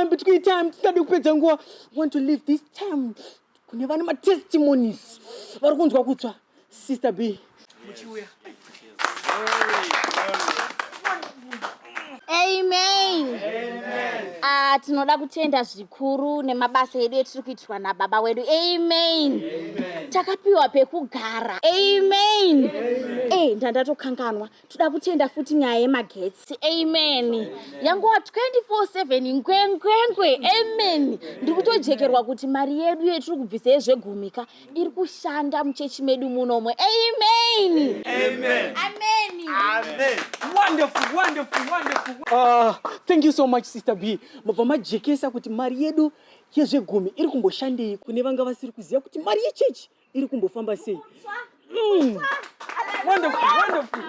time between time tisade kupedza nguva want to leave this time kune vane matestimonies vari kunzwa kutsva sister b muchiuya amen ah, tinoda kutenda zvikuru nemabasa edu etiri kuitirwa nababa wedu amen takapiwa pekugara amen e eh, ndandatokanganwa toda kutenda futi nyaya yemagetsi amen yanguva 24/7 ngwengwengwe amen ndiri kutojekerwa kuti mari yedu yetiri kubvisa yezvegumika iri kushanda muchechi medu munomo amen amen amen amen wonderful wonderful wonderful uh, thank you so much sister b mabva majekesa kuti mari yedu yezvegumi iri kumboshandei kune vanga vasiri kuziva kuti mari yechechi iri kumbofamba sei mm. wonderful wonderful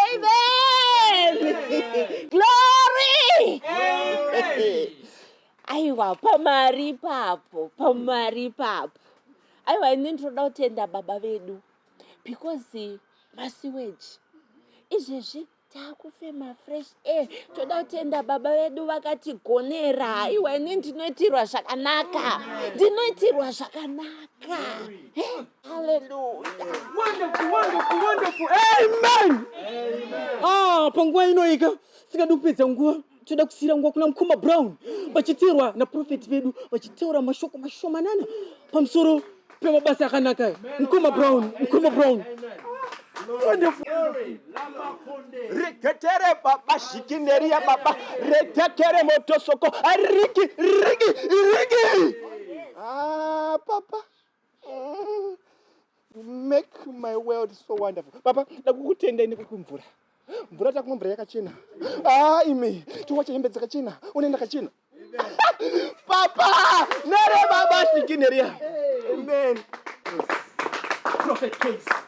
amen glory aiwa pamari ipapo pamari ipapo aiwa ini ndinoda kutenda baba vedu because masiweji izvezvi takufema fresh air toda kutenda baba vedu vakatigonera haiwa ini ndinoitirwa zvakanaka ndinoitirwa zvakanaka ah, panguva inoika singadi kupedza nguva toda kusiyira nguva kuna mukoma brown vachiteerwa naprofeti vedu vachitaura mashoko mashomanana pamusoro pemabasa akanaka aya mukoma brown mukoma brown reketere baba zhikineria baba retekere motosoko ariki riki riki ah, papa make my world so wonderful baba ndakukutendai nekukumvura mvura takumwa mvura yakachena ah imi tiwacha hembe dzakachena une ndakachena papa nere baba svikineriya amen prophet case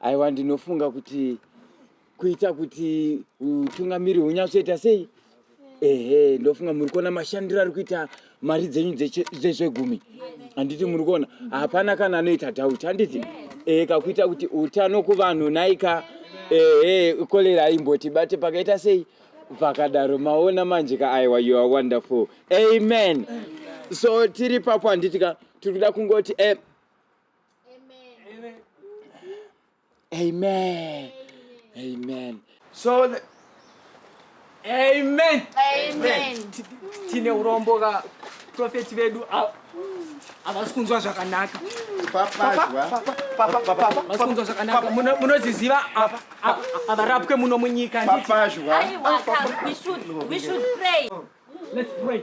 aiwa ndinofunga kuti kuita kuti utungamiri hunyatsoita sei ehe ndofunga muri kuona mashandiro ari kuita mari dzenyu dzezvegumi handiti muri kuona hapana kana anoita dhauti handiti ehe kakuita kuti utano kuvanhu naika ehe kolera imboti bate pakaita sei pakadaro maona manje ka aiwa you are wonderful amen so tiri papo handiti ka tiri kuda kungoti e Amen. Amen. Amen. So the... Amen. Amen. Tine urombo ka prophet vedu havasi kunzwa zvakanaka. Havasi kunzwa zvakanaka. Munoziziva havarapwe muno munyika. Papa zhwa. We should pray. Let's pray.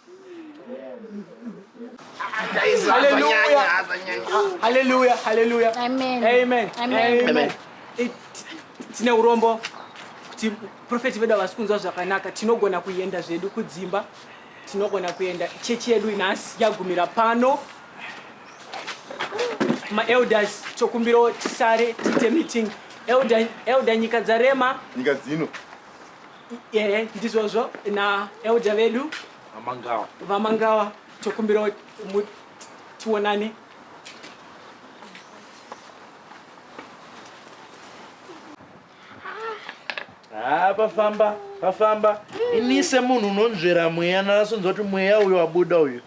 Hallelujah. Hallelujah. Amen. Amen. Amen. Amen. Tine urombo kuti profeti vedu havasi kunzwa zvakanaka tinogona kuenda zvedu kudzimba tinogona kuenda chechi yedu nhasi yagumira pano maelders tokumbirawo tisare tiite meeting elder, elder nyika dzarema nyika dzino ehe ndizvozvo naelder vedu vamangawa vamangawa tokumbirawo mu- tionane haa pafamba pafamba ini semunhu unonzvera mweya ndakasonzwa kuti mweya uyo wabuda uyo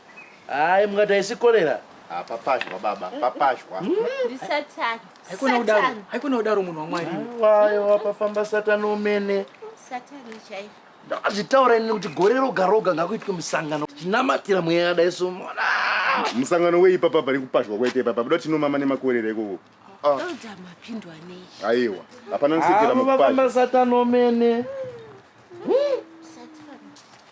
hayi mukati haisi korera Ah, papazhwa baba papazhwa ndisatani haikona kudaro haikona kudaro munhu wamwari wayo wapafamba satani umene satani chaiyo ndakazvitaura ini kuti gore roga roga ngakuitwe musangano tinamatira mweya yakadai so mona musangano wei papa pane kupazhwa kwaita ipapa buda tinomama nemakorera ikoko ah. elda mapindwa nei aiwa hapana nsekera mukupazha satani umene